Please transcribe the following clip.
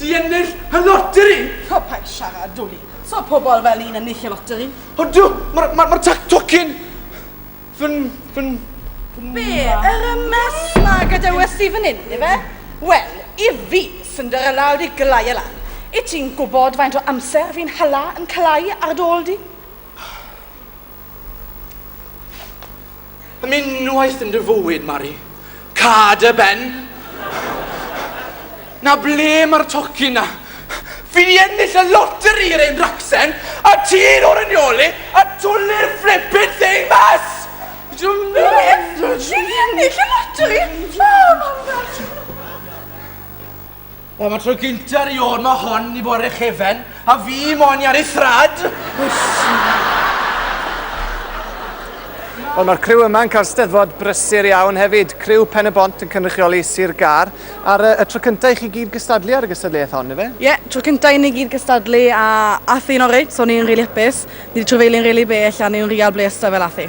Di ennill y loteri! O, paid siarad, Dwli. Sa pobl fel i'n ennill y loteri. O, do! Mae'r, mae'r, mae'r tac tocyn fy'n, fy'n, fy'n... Be, yr MS 'ma gadewes di fan hyn, ife? Wel, i fi, Cinderella wedi glau e lan. Wyt ti'n gwybod faint o amser fi'n hala yn clau ar dy ôl di? Am unwaith yn dy fywyd, Mari, ca dy ben! Na ble mae'r tocyn 'na? Fi 'di ennill y loteri yr hen racsen, a ti'n orinioli a twli'r flippin' thing mas! Juliet! Juliet! Ennill y loteri! O, mam dad! Wel, mae tro gynta i o'r ma hon i bore chefen, a fi mo'n i ar ei thrad! Wel, mae'r criw yma'n cael steddfod brysur iawn hefyd. Criw Pen y Bont yn cynrychioli Sir Gar. A'r y tro cyntaf i chi gyd gystadlu ar y gystadleuaeth hon, efe? Ie, yeah, tro cyntaf i ni gyd gystadlu a ath hi'n oreit, so ni'n rili really hapus. Ni wedi trefeilio'n rili really bell a ni'n rili really ble fel ath hi.